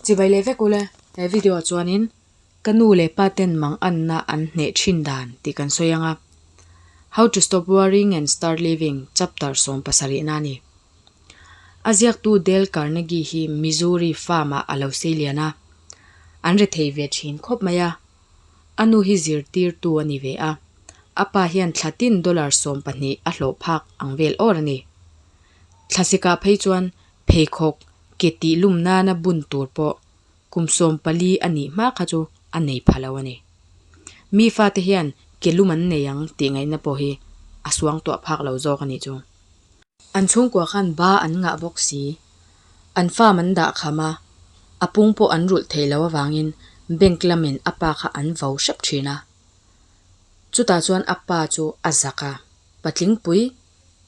Chibai leh vek ule, he video ah chuanin ka nu leh pa ten manganna an hneh thin dan tih kan sawi anga, How to Stop Worrying and Start Living chapter sawm pasarihna a ni. A ziaktu Dale Carnegie hi Missouri farm ah a lo seilian a, an rethei ve thin khawp mai a, A nu hi zirtirtu a ni ve a, a pa hian thla tin dollar sawm pahnih a hlawh phak ang vel awr a ni. Thla seka phei chuan pheikhawk ke tih lum nana bun tur pawh kum sawm pali a nih hma kha chu a nei pha lo a ni. Mi fate hian ke lum an nei ang tih ngaihna pawh hi a suang tuah phak lo zawk a nih chu. An chhungkua khan ba an ngah bawk si. An farm an dah kham a, a pung pawh an rulh thei lo avangin bank lamin a pa kha an vau hrep thin a. Chutah chuan a pa chu a zak a, patlingpui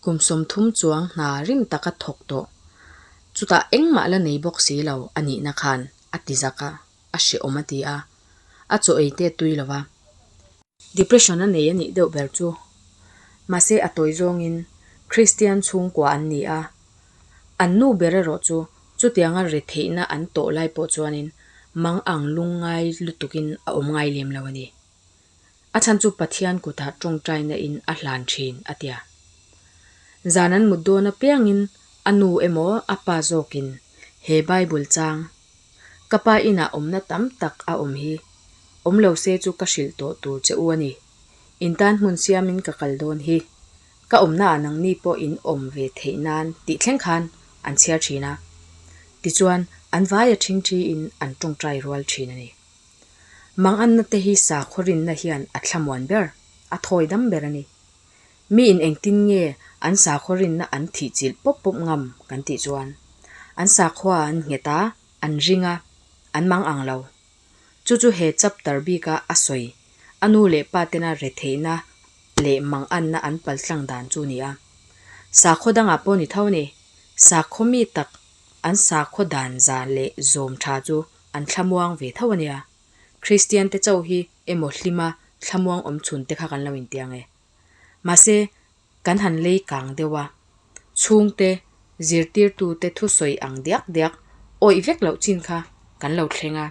kum sawmthum chuang hna rim taka thawk tawh. Chutah engmah la nei bawk si lo a nihna khan a ti zak a, a hrehawm a ti a, a chaw ei te tui lo va. Depression a nei a nih deuh ber chu. Mahse a tawi zawngin Kristian chhungkua an ni a. An nu ber erawh chu chutianga re theihna an tawh lai pawh chuanin mang ang lung ngai lutukin a awm ngai lem lo a ni. A chhan chu Pathian kutah tawngtai nain a hlan thin a tia. Zan an mut dawn apiangin a nu emaw a pa zawkin he Bible chang Ka pa inah awmna tam tak a awm hi awm lo se chu ka hrilh tawh tur che u a ni. In tan hmun siamin ka kal dawn hi ka awmna ah nangni pawh in awm ve theih nan tih thleng khan an chhiar thin a. Tichuan an vai a thin thi in an tawngtai rual thin a ni. Manganna te hi sakhaw rinna hian a thla muan ber, a thawi dam ber a ni. Mi in engtin nge an sakhua rinna an thih chilh pawp pawp ngam kan tih chuan an sakhua an nghet a, an ring a, an mang ang lo. Chu chu he chapter bika a sawi a nu leh pa tena retheihna leh manganna an paltlang dan chu ni a. Sakhua dangah pawh ni tho ni, sakhua mi tak an sakhua dan zan leh zawm tha chu an thlamuang ve tho a nia. Kristiante chau hi emaw hlima thlamuang awm chhunte kha kan lo intiang e. Mahse, kan han lei kang deuh a, chhungte, zirtirtute thusawi ang diak diak, awih vek loh chin kha kan lo thleng a.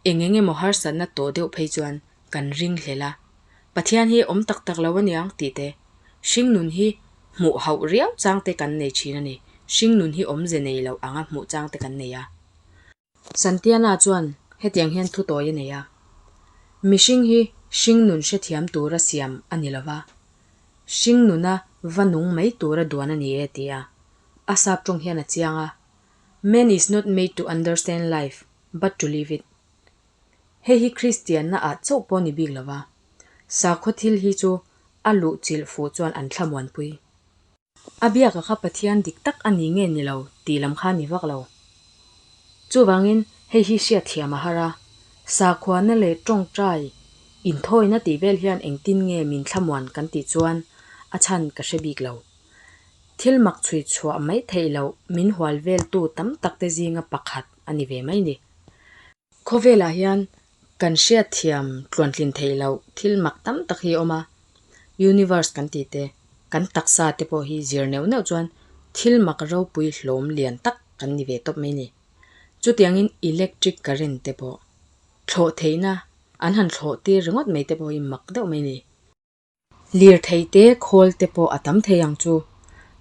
Eng eng emaw harsatna tawh deuh phei chuan kan ringhlel a, Pathian hi awm tak tak lo a niang tihte hringnun hi hmuh hauh riau changte kan nei thin a ni, hringnun hi awmze nei loh anga hmuh changte kan nei a. Santiana chuan hetiang hian thu tawi a nei a, Mihring hi hringnun hre thiam tura siam a ni lova, hringnuna va nung mai tura duan a ni e ti a, a sap tawng hian a chiang a, Man is not made to understand life, but to live it. Hei hi Kristianna ah chauh pawh a ni bik lova, sakhaw thil hi chu a luh chilh fuh chuan an thlamuanpui. A biaka kha Pathian dik tak a ni nge ni lo tih lam kha a ni vak lo. Chuvangin hei hi hriatthiam a har a, sakhuana leh tawngtai inthawina tih vel hian engtin nge min thlamuan kan tih chuan a chhan ka hre bik lo. Thil mak chhui chhuah mai theih loh min hual veltu tam takte zinga pakhat a ni ve mai ni. Khawvelah hian kan hriatthiam tluantlin theih loh thil mak tam tak hi a awm a. Universe kan tih te, kan taksa te pawh hi zir neuh neuh chuan thil mak ropui hlawm lian tak kan ni ve tawp mai ni. Chutiangin electric current te pawh, thlawh theihna, an han thlawh tir ringawt mai te pawh hi mak deuh mai ni. Lirthei te, khawl te pawh a tam thei ang chu.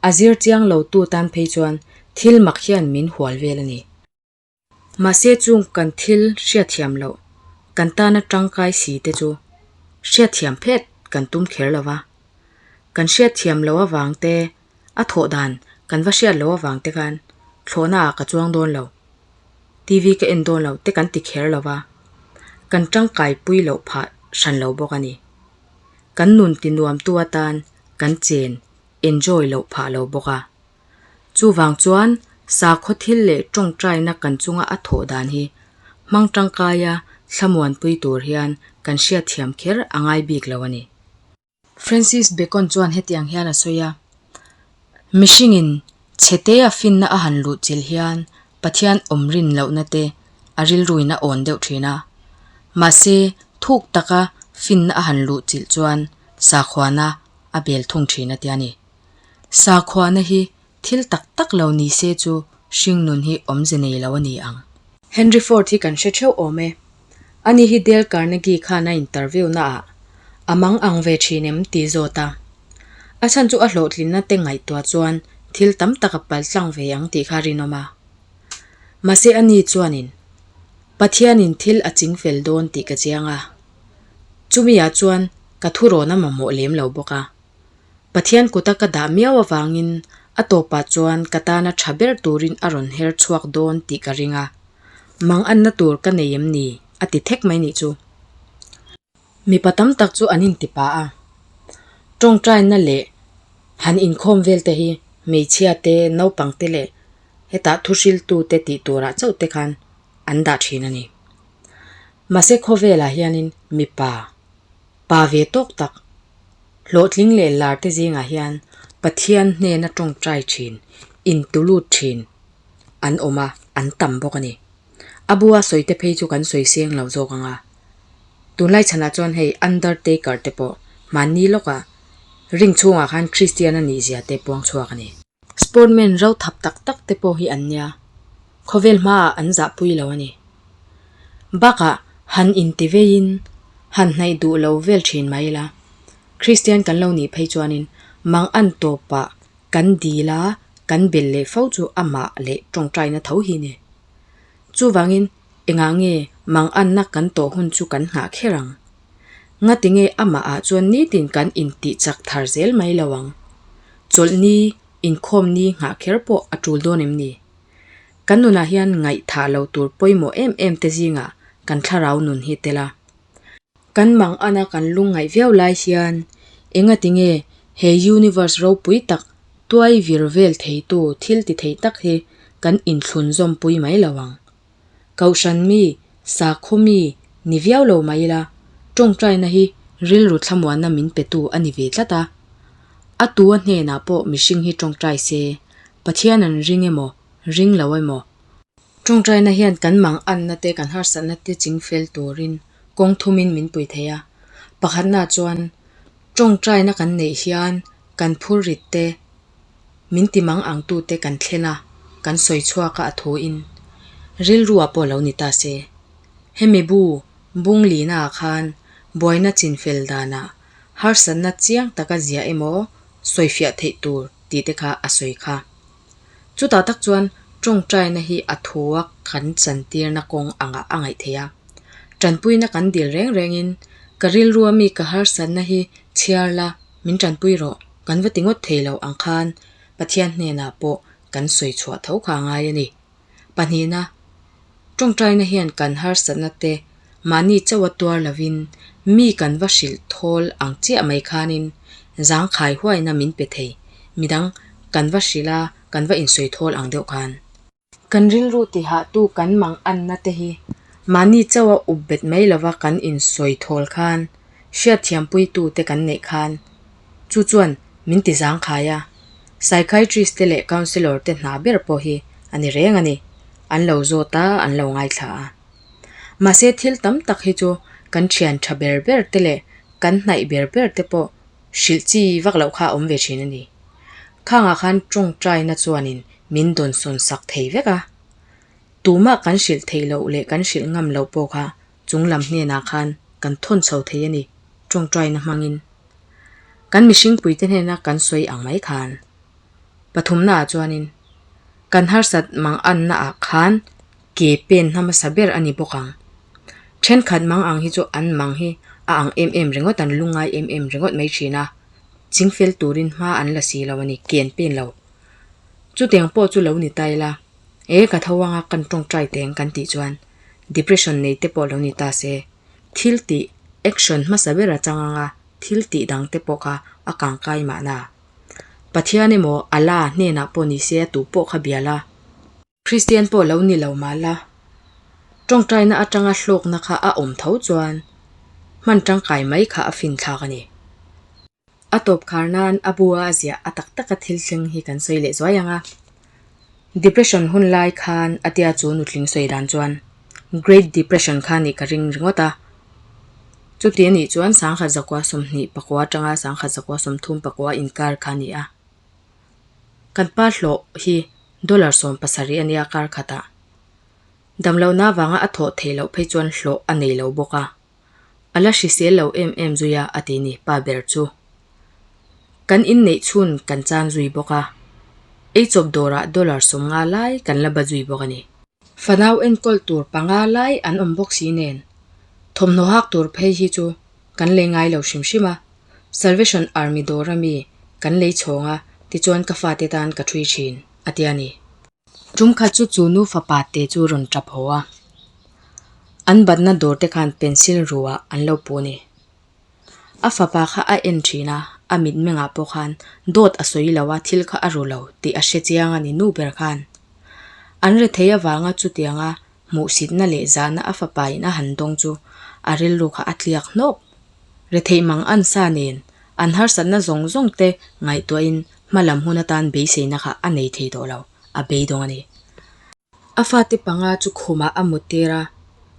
A zir chiang lotu tan phei chuan thil mak hian min hual vel a ni. Mahse chung kan thil hriatthiam loh, kan tana tangkai si te chu hriatthiam phet kan tum kher lo va, kan hriatthiam lo avang te, a thawh dan kan va hriat lo avang te khan thlawhna ah ka chuang dawn lo, TV ka en dawn lo te kan ti kher lo va, kan tangkai pui loh phah hran lo bawk a ni. Kan nun ti nuam tu atan kan chen enjoy loh phah lo bawk a. Chuvang chuan sakhaw thil leh tawngtaina kan chunga a thawh dan hi hmang tangkaia thlamuanpui tur hian kan hriatthiam kher a ngai bik lo a ni. Francis Bacon chuan hetiang hian a sawi a, Mihringin chhetea finna a han luh chilh hian Pathian awmrin lohnate a rilruin a awn deuh thin a, mahse thuk taka finna a han luh chilh chuan sakhuana a bel thung thin a tia a ni. Sakhuana hi thil tak tak lo ni se chu hringnun hi awm ze nei lo a ni ang. Henry Ford hi kan hre theuh awm e. Ani hi Dale Carnegie khan a interview naah a mang ang ve thin em ti zawt a. A chhan chu a hlawhtlinna te ngaihtuah chuan thil tam tak a pal tlang ve ang tih kha a rinawm a. Mahse ani chuanin Pathianin thil a ching fel dawn tih ka chiang a. Chumi ah chuan ka thurawn a mamawh lem lo bawk a. Pathian kuta ka dah miau avangin a tawpah chuan ka tana tha ber turin a rawn her chhuak dawn tih ka ring a, mang anna tur ka nei em ni? a ti thek mai nih chu. Mipa tam tak chu an intipa a, tawngtaina leh han inkhawm vel te hi hmeichhia te, naupang te leh hetah thu hriltu te tih turah chauh te khan an dah thin a ni. Mahse khawvelah hianin mipa Pa ve tawk tak, hlawhtling leh lar te zingah hian Pathian hnena tawngtai thin, intu lut thin an awm a, an tam bawk a ni. A bua sawi te phei chu kan sawi seng lo zawk ang a. Tunlai chhanah chuan hei Undertaker te pawh hmanni lawkah ring chhungah khan Kristiana nihzia te puang chhuak a ni. Sportmen ro thap tak tak te pawh hi an nia, khawvel hmaah an zah pui lo a ni. Bakah han inti veiin han hnaih duh lo vel thin mai ila, Kristian kan lo nih phei chuanin mang an tawpah kan dil a, kan bel leh fo chu amah leh tawngtaina tho hi ni. Chuvangin engah nge mang anna kan tawh hun chu kan nghah kher ang? Ngatinge amahah chuan nitin kan intih chak thar zel mai lo ang. Chawlh ni, inkhawm ni nghah kher pawh a tul dawn em ni? Kan nunah hian ngaihthah lo tur pawimawh em em te zingah kan thlarau nun hi tel a. Kan mang ana kan lung ngaih viau lai hian engatinge he universe ropui tak tuai vir vel theitu thil ti thei tak hi kan inthlun zawmpui mai lo ang. Kohhran mi, sakhaw mi ni viau lo mai ila, tawngtaina hi rilru thlamuanna min petu a ni ve tlat a. A tua hnenah pawh mihring hi tawngtai se, Pathian an ring emaw, ring lo emaw, tawngtaina hian kan mang anna te, kan harsatna te ching fel turin kawng thumin min pui thei a. Pakhatnaah chuan, tawngtaina kan neih hian kan phurrit te, Min ti mang ang tu te kan thlen a, kan sawi chhuak a a thu in. Rilru a pawh lo ni ta se. Hemi bu bung li na ah khan buaina chin fel dan ah harsat na chiang tak a zia emaw sawi fiah theih tur ti te kha a sawi kha. Chu tah tak chuan tawngtai na hi a thu a kan chan tir na kawng ang ah a ngaih theih a. Tanpui na kan dil reng reng in ka rilru a mi ka harsat na hi chhiar la. Min tanpui rawh, kan va ti ngawt thei lo ang khan Pathian hnenah pawh kan sawi chhuah tho kha a ngai a ni. Pahnihna, tawngtaina hian kan harsatna te mahni chauh a tuar lovin mi kan va hrilh thawl ang chiah mai khanin zangkhai huaina min pe thei midang kan va hrilh a, kan va insawi thawl ang deuh khan. Kan rilru tihah tu kan mang anna te hi mahni chauh a up bet mai lova kan insawi thawl khan hriatthiampui tu te kan neih khan chu chuan min ti zangkhai a, psychiatrist te leh counsellor te hna ber pawh hi a ni reng a ni, an lo zawt a, an lo ngaithla a. Mahse thil tam tak hi chu kan thian tha ber ber te leh kan hnaih ber ber te pawh hrilh chi vak loh kha a awm ve thin a ni. Khangah khan tawngtaina chuanin min dawnsawn sak thei vek a. Tumah kan hrilh theih loh leh kan hrilh ngam loh pawh kha chung lam hnenah khan kan thawn chho thei a ni, tawngtaina hmangin. Kan mihringpuite hnena kan sawi ang mai khan. Pathumnaah chuanin, kan harsat mangannaah khan. Ke pen hmasa ber a ni bawk ang. Thenkhat mang ang hi chu an mang hi a ang em em ringawt an lu ngai em em ringawt mai thin a, ching fel turin hma an la si lo a ni, ken pen lo. Chutiang pawh chu lo ni ta ila, e ka tho anga kan tawngtai teng kan tih chuan depression nei te pawh lo ni ta se. Thil tih action hmasa ber a chang anga thil tih dang te pawh kha a kang kai mahna. Pathian emaw Allah hnenah pawh ni se a tu pawh kha bial a. Kristian pawh lo ni lo mah la, tawngtaina atanga hlawkna kha a awm tho chuan hman tangkai mai kha a finthlak a ni. A tawp khar nan a bua a ziah a tak taka thil thleng hi kan sawi leh zuai ang a. Depression hun lai khan a tia chu nutling sawi dan chuan Great Depression kha nih ka ring ringawt a. Chuti a nih chuan sangha zakua sawmhnih pakua atanga sangha zakua sawmthum pakua inkar kha a ni a. Kan pa hlawh hi dollar sawm pasarih a nia a kar khat ah. Damlo na vanga a thawh thei loh phei chuan hlawh a nei lo bawk a. A la hrisel lo em em zui a a ti ni pa ber chu. Kan in neih chhun kan chan zui bawk a. Eichawp dawr ah dollar sawm nga lai kan la ba zui bawk a ni. Fanau enkawl tur panga lai an awm bawk si nen, thawmhnaw hak tur phei hi chu kan lei ngai lo hrim hrim a, Salvation Army dawr a mi kan lei chhawng a, tichuan ka fate tan ka ṭhui ṭhin, a ti a ni. Ṭum khat chu chu nu fapa te chu rawn ṭap haw a, an batna dawrte khan pencil ruah an lo puh a ni. A fapa kha a en thin a, a mitmengah pawh khan dawt a sawi lo a, thil kha a ru lo tih a hre chiang a ni, nu ber khan an retheih avanga chutianga hmuhsitna leh zahna a fapa in a han dawng chu a rilru kha a tliak hnawk. Retheih mang an sa nen an harsatna zawng zawng te ngaihtuahin hma lam hun atan beiseina kha a nei thei tawh lo, a beidawng a ni. A fate panga chu khumah a mu tir a,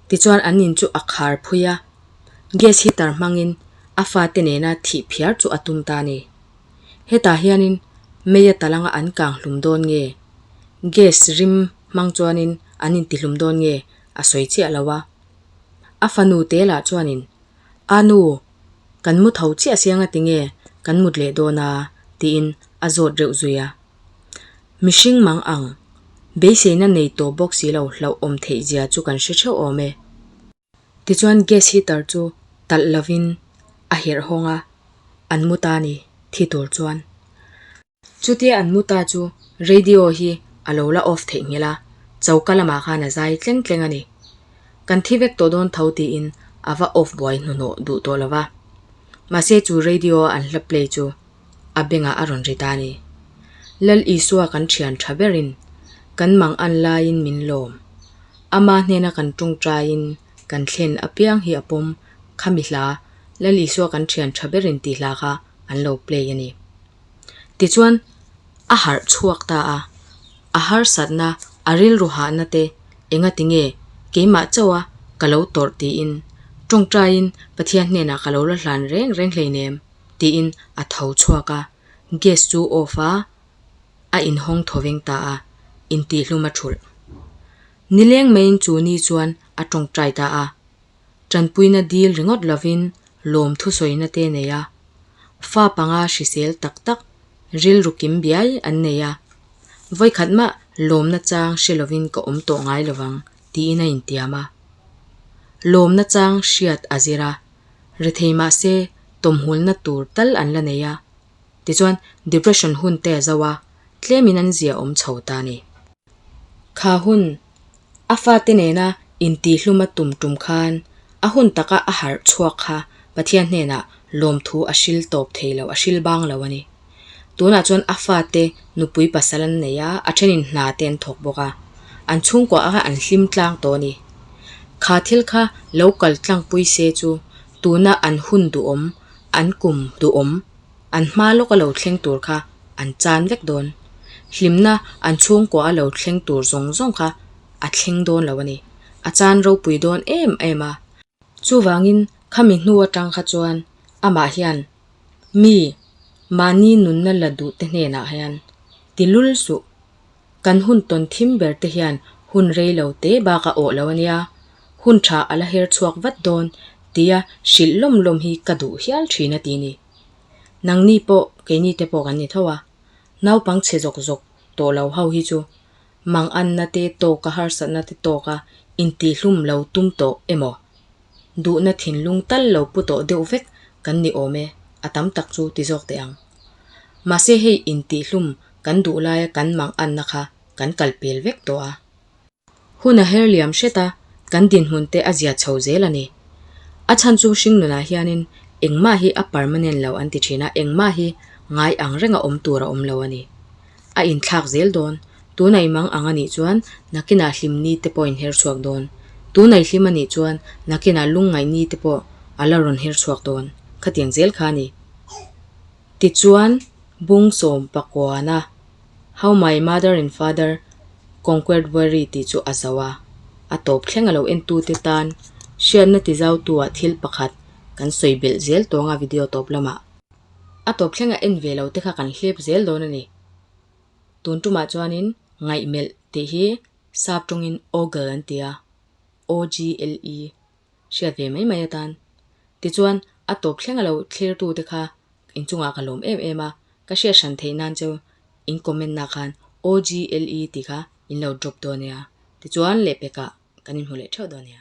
tichuan an in chu a khar phui a, gas heater hmangin a fate nena thih phiar chu a tum ta ni. Hetah hianin Meiya Talanga an kang hlum dawn nge, gas rim hmang chuanin an in ti hlum dawn nge a sawi chiah lo a. A fanu te lah chuanin, A nu, kan mu tho chiah siang a ti nge kan mut leh dawn a, tiin a zawt reuh zui a. Mihring mang ang, beiseina nei tawh bawk si lo, hlauhawm theih zia chu kan hre theuh awm e. Tichuan gas heater chu talh lovin a herh hawng a, an mu ta a ni, thi tur chuan. Chutia an mu ta chu radio hi a lo la off theih nghil a, choka lamah khan a zai tleng tleng a ni. Kan thi vek tawh dawn tho tiin a va off buai hnuhnawh duh tawh lo va. Mahse chu radio an hla play chu a bengah a rawn ri ta ni. Lal Isua kan thian tha berin kan mang an laiin min lawm. Ama hnena kan ṭung ṭaiin kan thlen apiang hi a pawm khami hla Lal Isua kan thian tha berin tih hla kha an lo play a ni. Tichuan, a harh chhuak ta a, a harsatna, a rilru hahna te engati nge keimah chauha ka lo tawrh tiin ṭung ṭaiin Pathian hnenah ka lo la hlan reng reng hleinem. tiin a tho chhuak a, gas chu off a, a in hawng thaw veng ta a, intihhlum a ṭhulh. Ni leng maiin chu ni chuan a ṭawng ṭai ta a, ṭanpuina dil ringawt lovin lawm thusawina te nei a, fa panga hrisel tak tak rilru kim biai an nei a, vawikhat mah lawmna chang hre lovin ka awm tawh ngai lovang tiin a intiam a, lawmna chang hriat a zir a, re thei mahse tawmhulna tur tal an la nei a, tichuan depression hun te zo a tlemin an zia awm chho ta ni. Kha hun a fate nena intihhluma tum tum khan a hun taka a harh chhuak kha Pathian hnenah lawmthu a hrilh tawp thei lo, a hrilh bang lo a ni. Tunah chuan a fate nupui pasal an nei a, a thenin hna te an thawk bawk a, an chhungkua ah khan an hlim tlang tawh a ni. Kha thil kha lo kal tlangpui se chu tuna an hun duhawm, an kum duhawm, an hma lawk a lo thleng tur kha an chan vek dawn. Hlimna an chhungkua a lo thleng tur zawng zawng kha a thleng dawn lo a ni, a chan ropui dawn em em a. Chuvangin khami hnu atang kha chuan amah hian mi mahni nunna la duhte hnenah hian ti lul suh kan hun tawn thim ber te hian hun rei lo te bak a awh lo a nia, hun tha a la her chhuak vat dawn tia hrilh lawm lawm hi ka duh hial thin a ti ni. Nangni pawh keini te pawh kan ni tho a, naupang chhe zawk zawk tawh lo ho hi chu manganna te tawka harsatna te tawka intih hlum lo tum tawh emaw? duhna thinlung tal lo pu tawh deuh vek kan ni awm e, a tam tak chu ti zawk teh ang. Mahse hei intihhlum kan duh laia kan mang anna kha kan kal pel vek tawh a. Hun a her liam hret a, kan dinhmun te a zia chho zel a ni. A chhan chu hringnunah hianin engmah hi a permanent lo an ti thin a, engmah hi ngai ang renga awm tur a awm lo a ni. a inthlak zel dawn. Tuna i mang ang a nih chuan nakina hlim ni te pawh a inher chhuak dawn. Tuna i hlim a nih chuan nakina lungngaih ni te pawh a la rawn her chhuak dawn. Khatiang zel kha a ni. Tichuan, bung sawm pakuana How my mother and father conquered worry tih chu a zauh a, a tawp thleng a lo entute tan hriatna ti zautuah thil pakhat kan sawi belh zel tawnga video tawp lamah. a tawp thleng a en ve lo te kha kan hlep zel dawn a ni. Tun tumah chuanin ngaihmelh tih hi sap tawngin ogle an ti a, O-G-L-E, hriat ve mai mai atan. Tichuan a tawp thlenga lo thlertu te kha inchungah ka lawm em em a, ka hriat hran theih nan chu in comment na khan O-G-L-E tih kha in lo drop dawn a nia, tichuan leh pekah kan inhmu leh theuh dawn a nia.